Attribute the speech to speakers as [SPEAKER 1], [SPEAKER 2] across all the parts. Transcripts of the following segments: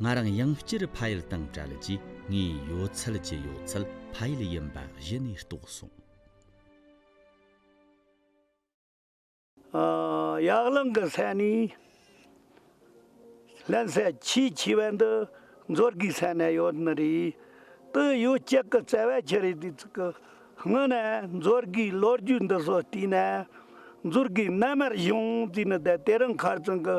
[SPEAKER 1] ང་རང་ཡང་བསྐྱར་ཕ་ཡུལ་དང་བྲལ་རྗེས་ངའི་ཡོད་ཚད་ཀྱི་ཡོད་ཚད་ཕ་ཡུལ་ཡིན་པ་གཞི་ནས་རྟོགས་སོང།
[SPEAKER 2] ཡག་རླུང་གི་ས་ནས་བརླན་ས་ཆེས་ཆེ་བ་འདི་མཛོད་དགེའི་ས་ན་ཡོད་ནི་རེད། དེ་ཡོད་སྐྱེས་ཀྱི་བརྩེ་བ་ཆེ་རེད་དུས་ཚིགས་ཀྱི་སྔོན་ནས་མཛོད་དགེའི་ལོ་རྒྱུས་འདི་སོགས་བལྟས་ན། མཛོད་དགེ་རྣལ་མར་བཞུགས་དུས་ནི་དེ་རིང་མཁར་རྫོང་གི།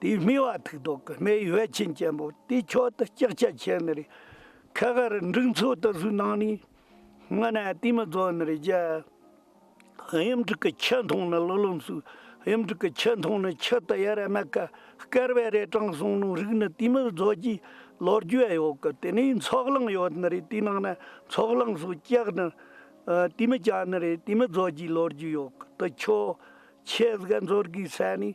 [SPEAKER 2] དེའི་སྨི་བ་ཐུགས་དོག་གི་སྨད་ཡོལ་ཆེན་ཅན་པོ་དེའི་མཆོག་ཏུ་ལྕགས་ཕྱེ་ཆེ་ནི་རེ། ཁལ་ཁ་རུ་འབྲུག་མཚོ་ལྟ་བུའི་ནང་ནས་སྔ་ན་ཏིའི་མི་རྫོགས་ནི་རེ་རྒྱལ། གཡུ་འབྲུག་གི་ཁྱི་མཐོང་ནི་ལོ་ལོམ་སུ། གཡུ་འབྲུག་གི་ཁྱི་མཐོང་ནི་ཁྱི་ཏི་ཡ་ར་ན་ཀ། སྐལ་བས་རས་བྲང་སྲུང་ནོ་རིགས་ནི་ཏིའི་མི་རྫོགས་ཀྱི་ལོ་རྒྱུས་ཡོད་གི་དེ་ནས་མཚོག་གླང་ཡོད་ནི་རེ་དེའི་ནང་ན་མཚོག་གླང་སུ་ལྕགས་ནི། ཏིའི་མི་ལྕགས་ནི་རེ་ཏིའི་མི་རྫོགས་ཀྱི་ལོ་རྒྱུས་ཡོད་གི་དུ་ཁྱོད། ཁྱེད་གཟིགས་མཚོ་རྒྱུའི་ས་ནས་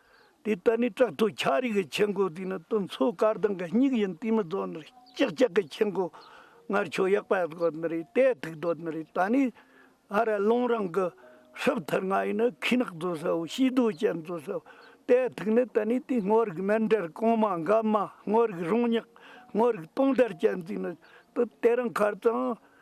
[SPEAKER 2] དེ་ལྟར་ནི་བྲག་ཐོ་འཁྱག་རིགས་ཀྱི་ཆེ་མགོ་དེ་ནི་དུ་མཚོ་དཀར་མདངས་ཀྱི་སྙིགས་ཡིན་དེ་མི་རྫོགས་ནི་ལྕགས་ལྕགས་ཀྱི་ཆེ་མགོ། སྔར་ཆུ་གཡག་པད་སྒོ་ནི་རེད་ཏའི་ཐིག་རྡོ་ནི་རེད་ད་ནི་ཨ་ར་ཀླུང་རང་གི་ཧྲིབ་ཐིག་ང་ཡི་ནི་ཁུས་ནག་རྫོ་ས་བོ་ཤིས་རྡོ་ཅན་རྫོ་ས་བོ་ཏའི་ཐིག་ནི་ད་ནི་དེ་སྔོ་རིགས་སྨན་འབྲས་གོང་མ་འགའ་མ་སྔོ་རིགས་རོང་ཉག་སྔོ་རིགས་སྟོང་དར་ཅན་དེ་ནི་དུ་དེ་རང་ཁར་ཙང་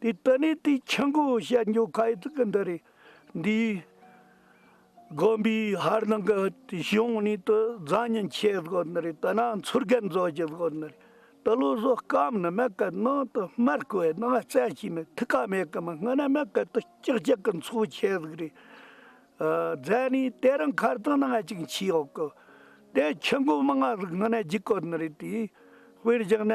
[SPEAKER 2] འདི་ལྟ་ནས་དེའི་ཆུ་མགོ་བཤལ་མགྱོགས་ཁ་ཡི་ཐུགས་ཀ་འདི་རེད། འདིས་དགོན་པའི་ཧར་ནང་གི་གཞུང་ནས་དུ་བཟང་ཉིན་ཆད་བཟོ་འདི་རེད་དུ་ནང་ཚུར་རྒན་བཟོ་ཅི་བཟོ་འདི་རེད་དུ་བློ་བཟོ་སྐམ་ནི་མེད་གི་ནང་དུ་མར་བསྐོས་ནང་བཙལ་བྱས་ནི་ཐུགས་ཀ་མེད་གི་མི་སྔ་ན་མེད་གི་དུ་ཅིག་ཅིག་གི་འཚོ་ཆས་ཟིག་རེད། རྫས་ནི་དེ་རིང་ཁར་དང་ནང་ཅིག་མཆིས་ཡོད་གི། དེའི་ཆུ་མགོ་མི་སྔ་ཟིག་སྔ་ན་རྒྱུག་གི་འདི་རེད་དེའི་དཔེར་བཞག་ན།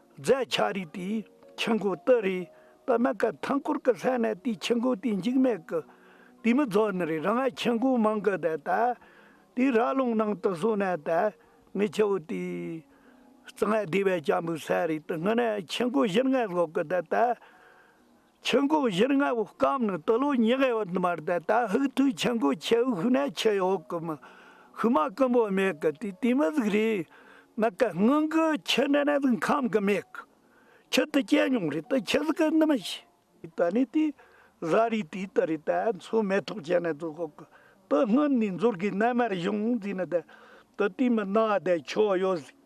[SPEAKER 2] རྫས་ཆ་རིགས་དེའི་ཆུ་འགོ་དུ་རེད། དཔེར་ན་སྐབས་ཐང་སྐོར་གྱི་ལྷད་ནས་དེའི་ཆུ་འགོ་དེ་འཇིགས་མེད་ཀྱི་དུས་མི་རྫོགས་ནི་རེད་རང་ཨ་ཆུ་འགོ་མང་གི་དེ་ད་དུས་ར་ལུང་ནང་དུ་སོང་ནས་དེ་ངི་ཆུ་བོ་དེའི་རྩ་ངལ་བདེ་བས་བྱ་འབུག་ཟས་རིགས་དེ་ངི་ནས་ཆུ་འགོ་བཞིར་ངལ་བསློག་གི་དེ་ད། ཆུ་མགོ་བཞིར་རྔ་བོ་སྐམ་ནི་དུ་ལོ་ཉི་ཧེ་འོད་མར་ཟླ་དག་ཧུག་ཐུའི་ཆུ་མགོ་ཁྱེའུ་བྷུ་ནའི་ཆུ་ཡི་འོག་གི་མི་བྷུ་མ་ཀུན་པོ་མེད་གི་དུས་དུས་མི་གཟུགས་རེའི་ནི་གི་སྔོན་གི་ཆུ་འདྲེ་ནས་གཟུགས་ཁམས་གི་མེད་གི་ཆུ་དུ་སྐྱེས་མྱོང་རེད་དུ་ཆུ་གཟུགས་གི་ནི་མི་ཤེས། དུ་ནི་དུས་གཟའ་རིའི་དུས་དུ་རེད་དུ་མཚོ་མེ་ཐོག་ཆེ་ནས་གཟུགས་འོག་གི་དུ་སྔོན་ནས་འཛོར་གི་རྣལ་མར་གཞུང་འཛིན་ནི་དུ་དུས་མི་སྣང་བ་དེ་ཕྱོགས་ཡོད་གཟིགས།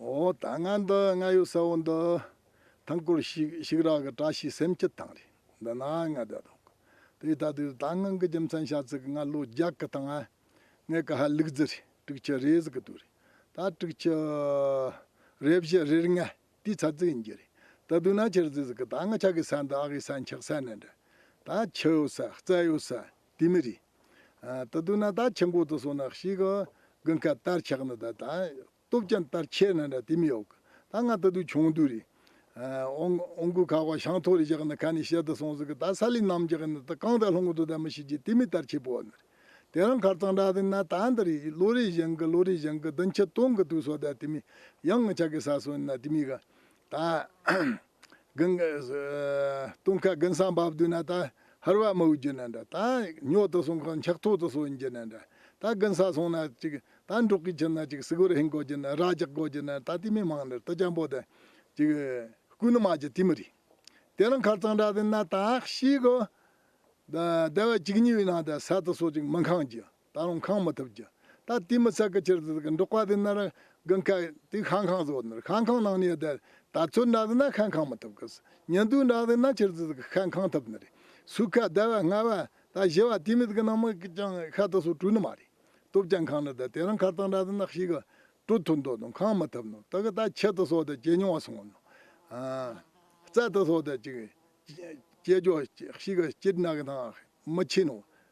[SPEAKER 3] འོ་ད་ང་འདི་ང་ཡོད་ས་བོ་འདི། ཐང་སྐོར་ཞིག་ཞིག་རག་གི་བཀྲ་ཤིས་སེམས་སྐྱིད་དང་རེད་འདི་ན་ང་བསྡད་འདུག་གི། དེའི་ཐག་དུས་ད་ངང་གི་རྒྱུ་མཚན་ཤ་ཚིག་ང་ལོ་རྒྱག་གི་དང། ངས་ཀ་ཧ་ལུག་རྫི་རེད་དྲུག་ཅུ་རེད་ཟེར་གི་འདུག་རེད་ད་དྲུག་ཅུ། རེ་བཞི་རེར་ལྔ་དེའི་ཚ་ཚིག་ཡིན་རྒྱུ་རེད་ད་སྡུག་ན་ཁྱེར་རྫི་ཟེར་གི་ད་ང་ཆ་གི་ས་འདི་ཨ་གི་ས་འཁྱག་ས་ནས་འདྲ། ད་ཁྱི་ཡོད་ས་རྩལ་ཡོད་ས་དེ་མི་རེད། ད་དུང་ན་ད་ཆེན་པོ་དུ་སོང་ན་ཞིག་གི་དགུན་སྐལ་ལྟར་ཆགས་ན་ད་སྟོབས་ཀྱང་ལྟར་ཆེ་ན་འདྲ་དེ་མི་ཡོག་གི་ད་ང་ད་དུང་ཆུང་དུས་རི་ཨོང་གུ་ཁ་བ་ཞང་ཐོག་རི་བཞག་ན་ཁ་ནས་བཤད་དུ་སོང་ཟིག་གི་ད་ས་ལས་ནམ་བྱེད་ན་ད་གང་ད་ལྷུང་གི་དུ་ད་མི་ཤི་རྗེས་དེ་མི་ལྟར་ཆེ་པོ་ན་རེ་དེ་རང་ཁར་གཙང་སྦྲ་དུ་ན་ད་འདི་རི་ལོ་རེ་བཞེངས་གི་ལོ་རེ་བཞེངས་གི་བདུན་ཕྱི་སྟོང་གི་དུས་སོ་ད་དེ་མི་ཡང་ང་ཆགས་གི་ས་སོ་ན་དེ་མི་ག་དང། ལྟུང་ཁ་དགུན་སྲང་བབས་དུས་ན་དང། ཧར་བ་མི་དབུལ་གྱུར་ན་འདྲ། དང། ཉོག་ཏུ་སོང་ཁར་འཁྱག་ཐོག་ཏུ་སོང་གྱུར་ན་འདྲ། དང། དགུན་སར་སོང་ན་གཅིག། དང། འབྲོག་གིས་ཁྱེར་ན་གཅིག་སིལ་བུར་ཧིན་བསྐོར་གྱུར་ན་ར་རྒྱག་བསྐོར་གྱུར་ན་དང། ཏི་མི་མང་འདྲ་ཏི་སྐྱ་འབོ་དང། གཅིག། སྐུ་ནུ་མ་གཅིག་ཏི་མི་རིགས། དེ་རིང་ཁར་གཙང་སྦྲ་དུ་ན་དང། ཤིག་གོ། དང། སྡེ་བ་གཅིག་གཉིས་ཡོད་ན་འདྲ་ས་དུ་སོ་གཅིག་མི་འཁང་རྒྱུ། ད་རུང་ཁང་མི་ཐུབ་ཀྱི། ད་དུས་མི་ཚད་ཀྱི་ཕྱིར་དུ་འབྲོག་པ་དེ་ནི་ར་གི་འཁལ། དུས་ཤང་ཁང་བཟོ་ནི་ཤང་ཁང་ནང་ནས་བསྡད། ད་ཚོད་འདྲ་ཟིན་ན་ཤང་ཁང་མི་ཐུབ་ཀི། ཉིན་དུས་འདྲ་ཟིན་ན་ཕྱིར་དུ་ཤང་ཁང་ཐུབ་ནི་རེད། སུས་ཁ་བདེ་བ་སྔ་བ། ད་བཞི་བ་དུས་མེད་ཀྱི་ནང་མི་ཀྱང་ཤ་དུ་སོ་བྲུས་ནི་མ་རེད། སྟོབས་ཀྱང་ཁང་ནི་དེ་དེ་རང་ཁར་ཐང་འདྲ་ཟིན་ན་ཤི་གི། དྲོད་ཐུར་འདོད་ནོ་ཁང་མི་ཐུབ་ནོ་དེ་གི་ད་ཁྱད་དུ་སོ་དེ་ཇེ་ཉུང་བ་སོང་བ་ནོ། རྩལ་དུ་སོ་དེ་ཅིག། ཅེས་ཀྱོ་ཤི་གི་སྐྱིད་ནག་གི་ཐང་མི་ཆེ་ནོ།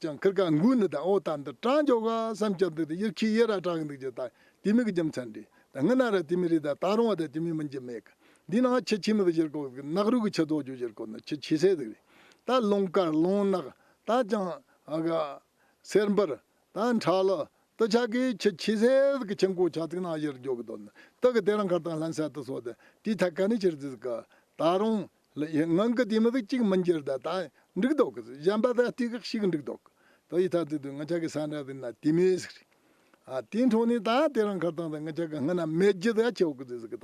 [SPEAKER 3] ཀྱང་ཁིར་ཁ་འགུག་ནི་དང་ཨོ་ད་འདི་སྤྲང་རྒྱོ་ག་བསམ་ཁྱབ་འདུག་དང་དབྱིར་ཁིའི་དབྱེ་ར་བྲག་གི་འདུག་ཅེས་དང་དེ་མིག་གི་རྒྱུ་མཚན་འདྲི་དང་ངི་ན་ར་དེ་མི་རིག་དང་སྟག་རོང་བ་དང་དེ་མིག་མི་འཇི་མེད་གི་འདི་ནང་ཁྱི་ཁྱི་མི་བུ་བཞིར་གོ་གི་ནག་རུག་གི་ཁྱི་རྫོགས་རྒྱུ་བཞིར་གོ་ནི་ཁྱི་ཁྱི་སེ་ཟིག་རེད་ད་ལུང་དཀར་ལུང་ནག་ད་ཅང་ཨ་ག་སེར་འབུར་ད་འཁྲ་ལོ་དུ་ཆ་གི་ཁྱི་ཁྱི་སེ་ཟིག་གི་ཁྱི་འགོ་ཆ་ཚིག་ནང་བཞིར་རྒྱོ་གི་འདུག་ནི་དུག་གི་དེ་རང་གར་དང་ལྷན་སད་དུ་སོ་དེ་དེའི་ཐད་ག་ནི་ཁྱིར་རྫིས་གི་ད་རུང་ལ་ཡི་ངང་གི་དེ་མི་བུ་གཅིག་མི་འགྱུར་ད་ད་འགྲིག་འདོག་གི་གཞན་པ་ད་ལྟའི་ཁག་ཞིག་འགྲིག་འདོག་གི་ད་ཡི་ཐག་ཚད་དུ་ང་ཅག་གི་ས་འདྲ་བའི་ན་དེ་མི་ཟིག་རེད། ཨ་དེའི་འཕྲོ་ནས་ད་དེ་རང་ཁར་བཏང་ད་ང་ཅག་གི་སྔ་ན་མེད་རྒྱུ་ད་ཆོག་གི་ཟིག་ད་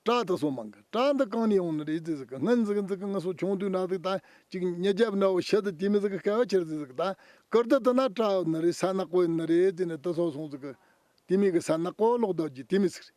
[SPEAKER 3] བྲག་ད་སོ་མང་གི་བྲག་འདི་གང་ནས་ཡོང་ནི་རེད་ཟིག་སྔ་འཛི་གི་འཛི་གི་ང་སོ་ཆུང་དུས་འདྲ་ཟིག་ད་ཅིག་ཉེ་རྒྱབ་འདྲ་བོ་ཤི་ད་དེ་མི་ཟིག་སྐལ་བ་ཕྱིར་ཟིག་ད་ཀིར་ཏི་ཏི་ན་བྲག་ནི་རེད་ས་ནག་པོ་ནི་རེད་ཟེར་ནས་ད་སོ་སོང་ཟིག་གི་དེ་མི་གི་ས་ནག་པོ་ལོག་འདོག་རྒྱུ་དེ་མི་ཟིག་རེད།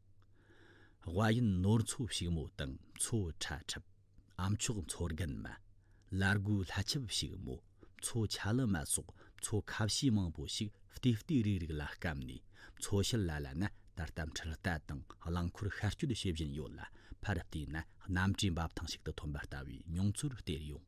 [SPEAKER 1] དབའ་ཡུལ་ནོར་མཚོ་བྱུག་མོ་དང་མཚོ་ཁྲ་ཁྲབ། ཨམ་ཆོག་མཚོ་རྒན་མ། བླ་རྒོད་ལྷ་ཆབ་བྱུག་མོ། མཚོ་ཆ་ལི་མ་སོགས་མཚོ་ཁ་བྱི་མང་པོ་ཞིག་ལྟེ་ལྟེ་རིག་རིག་ལ་སྐམ་ནས་མཚོ་ཤར་ལ་ལ་ན་ད་ལྟ་འཕྲུལ་རྟ་དང་རླངས་འཁོར་ཤར་སྐྱོད་བྱེད་བཞིན་ཡོད་ལ་ཕར་བལྟས་ན་གནམ་གྲུའི་འབབ་ཐང་ཞིག་ཏུ་ཐོན་པ་ལྟ་བུའི་མྱོང་ཚོར་སྟེར་ཡོང།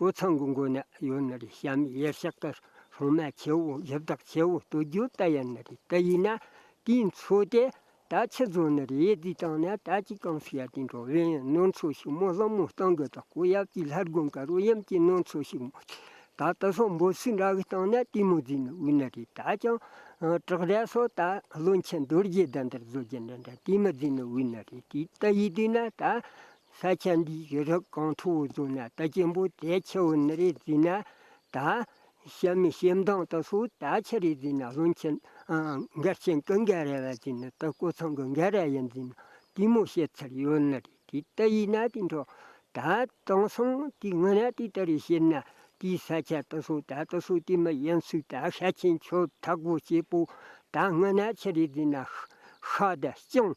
[SPEAKER 4] སྒོ་ཚང་གི་མགོ་ན་ཡོད་ན་རེ་བྱམས་གཡས་ཕྱག་དར་ཧྲོང་མ་ཁྱེའུ་བཞི་བདག་ཁྱེའུ་སྟོད་རྒྱུད་རྟ་ཡན་ན་རེ་རྟ་ཡིན་ན་དེའི་མཚོ་སྟེ། ད་ཕྱི་རྫོང་ན་རེ་ཡས་དུས་དང་ན་ད་ཅི་གང་སུ་ཡ་དེ་འགྲོ་བས་ཡན་ནོར་མཚོ་ཞིག་མོ་གླང་མོ་སྟང་གི་དྲག་པོ་ཡབ་ཀྱི་ལྷ་དགོན་ཀ་རོ་ཡམ་གྱི་ནོར་མཚོ་ཞིག་མོ་སྟེ། ད་ད་སོག་འབོ་སུ་འདྲ་གི་སྟང་ན་དེ་མོ་རྫི་ན་དབུས་ན་རེ་ད་ཅང། བྲག་ར་སོག་ད་བློན་ཆེན་རྡོ་རྗེ་ཟླ་འདྲ་རྫོ་རྗེ་འདྲ་འདྲ་དེ་མི་རྫི་ན་དབུས་ན་རེ་དེའི་རྟ་ཡིས་དུས་ན་ད། ས་ཆ་འདིའི་རི་རབ་གངས་མཐོ་བོ་རྫོང་ན་རྟ་སྐྱེན་པོ་དད་ཆེ་བོ་ནི་རས་བརྫིས་ན་ད། ཤ་མི་ཤེས་མདངས་ལྟ་སོ་ད་ཆ་རས་བརྫིས་ན་བློན་ཆེན། འགལ་ཆེན་ཀུན་འགལ་རས་བ་བརྫིས་ན་ད་སྐུ་ཚང་གི་འགལ་རས་ཡ་བརྫིས་ན་དུས་མོ་བཤད་ཚར་ཡོད་ནི་རེད་དེ་ལྟ་ཡིན་ན་དེ་འདྲ་ད་དེང་སང་དེ་དངོས་ན་དེ་ལྟར་རེད་བཤད་ན་དེའི་ས་ཆ་ལྟ་སོ་ད་ལྟ་སོ་དེ་མི་ཡིན་ཚུལ་ད་ཤ་ཆེན་ཆོས་འཐག་པོ་སྐྱེས་པོ་ད་དངོས་ན་ཆ་རས་བརྫིས་ན་ཤ་ཤ་ད་སྤྱང་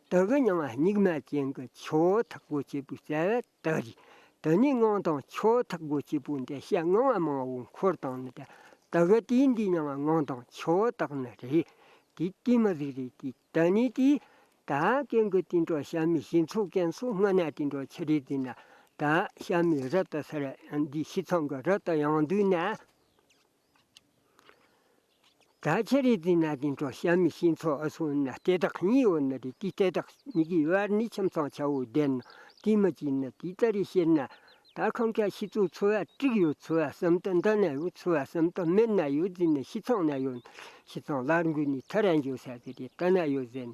[SPEAKER 4] དག་གི་མྱང་བ་སྙིགས་མ་ཅན་གྱི་ཆོས་ཐག་པོ་ཆེ་པོའི་རྩ་བའི་རྟགས་ཀྱིས་དེ་ཉིད་དངངས་དང་ཆོས་ཐག་པོ་ཆེ་པོ་འདི་བཤད་དངངས་བ་མང་བོ་འཁོར་དང་ནི་དེ་དག་གི་དུས་འདིའི་མྱང་བ་དངངས་དང་ཆོས་རྟགས་ནི་རེད་དེ་དུས་མ་ཟིག་རེད་དེ་ད་ནི་དུས་ད་ཀན་གི་དུས་འགྲོ་ཞབས་མི་ཤིང་ཚུགས་ཀན་སུ་སྔ་ན་དུས་འགྲོ་ཆེ་རེད་དེ་ན་ད་ཞབས་མི་རི་ད་སེ་ར་འདི་ཕྱི་ཚང་གི་རི་ད་ཡང་འདུས་ན། ད་ཆ་རི་དེའི་ནང་དུ་འགྲོ་ཤ་མི་ཤེས་མཚོ་ཨ་སོང་ན་ལྟེ་ཐག་གཉིས་ཡོད་ན་རི་དེའི་ལྟེ་ཐག་གཉིས་ཀྱི་བར་ནི་ཁྱིམ་ཚང་ཆ་བོ་ལྡན་ནོ། དེ་མ་བྱས་ན་དེ་ལྟར་རི་ཤེད་ན། ད་ཁམས་ཁ་ཤི་ཚོ་འཚོ་བ་དཀྲིགས་ཡོད་འཚོ་བ་སམ་ད་འདི་ན་ཡོད་འཚོ་བ་སམ་ད་མི་ན་ཡོད་ཟེར་ན་ཤི་ཚང་ན་ཡོད་ན་ཤི་ཚང་ལར་འགོས་ནས་ཐ་རན་འཇོག་ས་དེ་རེད་ད་ན་ཡོད་ཟེར་ན་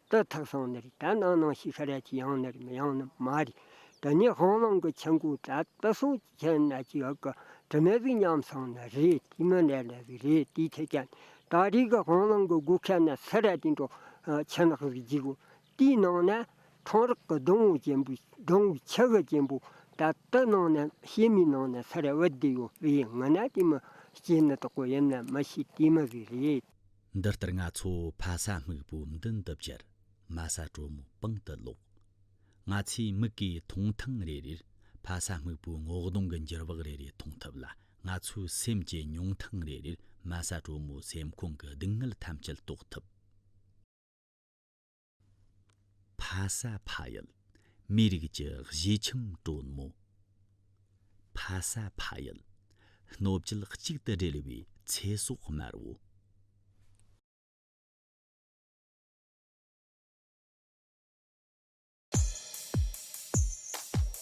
[SPEAKER 4] ཏུ་ཐག་སོང་ནི་རེད་ད་ནང་ནང་ཞིག་ཤར་ཡ་ཅིག་ཡང་ནི་རེད་མི་ཡང་ནི་མ་རེད་དེ་ནས་ཧོང་ལོང་གི་ཆན་ཀུའུ་ཏྲ་ཏུ་སོང་ཅིག་ཆན་ནས་ཅིག་ཡོད་གི་དྲི་མེད་ཟིག་ཉམས་སོང་ནི་རེད་དེ་མི་ནས་ནས་ཟིག་རེད་དེའི་ཐད་ཀྱ་ནི་ད་རེས་གི་ཧོང་ལོང་གི་སྒུག་ཁ་ནས་ཚེ་རལ་དེ་འགྲོ་ཆན་ནག་ཟིག་འཇིག་གོ་དེའི་
[SPEAKER 1] ནང་ནས་ཁྲོང་རག་གི་སྡོང་བུ་ཅན་པོའི་སྡོང་བུའི་ཆ་ག་ཅན་པོ་ད་ཏུ་ནང་ནས་ཤེལ་མིའི་ནང་ནས་ཚེ་རལ་བུ་དེ་ཡོད་དེའི་ངོས་ནས་དེ་མི་སྐྱེས་ནི་དོག་པོ་ཡིན་ནི་མི་ཤེས་དེའི་མི་ཟིག་རེད། འདི་ལྟར་ང་ཚོ་ཕ་ས་སྨུག་པོའི་མདུན་དུ་བཅར། མ་ས་གྲོ་མོའི་པང་དུ་ལོག། ང་ཚོས་མིག་གིས་མཐོང་ཐེངས་རེ་རེར་ཕ་ས་སྨུག་པོའི་ངོ་གདོང་གི་འགྱུར་བག་རེ་རེ་མཐོང་ཐུབ་ལ་ང་ཚོའི་སེམས་ཀྱིས་མྱོང་ཐེངས་རེ་རེར་མ་ས་གྲོ་མོའི་སེམས་ཁོང་གི་སྡུག་བསྔལ་ཐམས་ཅད་རྟོགས་ཐུབ། ཕ་ས་ཕ་ཡུལ་མིའི་རིགས་ཀྱི་གཞིས་ཁྱིམ་གྲོལ་མོ། ཕ་ས་ཕ་ཡུལ་སྣོད་བཅུད་གཅིག་ཏུ་སྦྲེལ་བའི་ཚེ་སྲོག་དམར་བོ།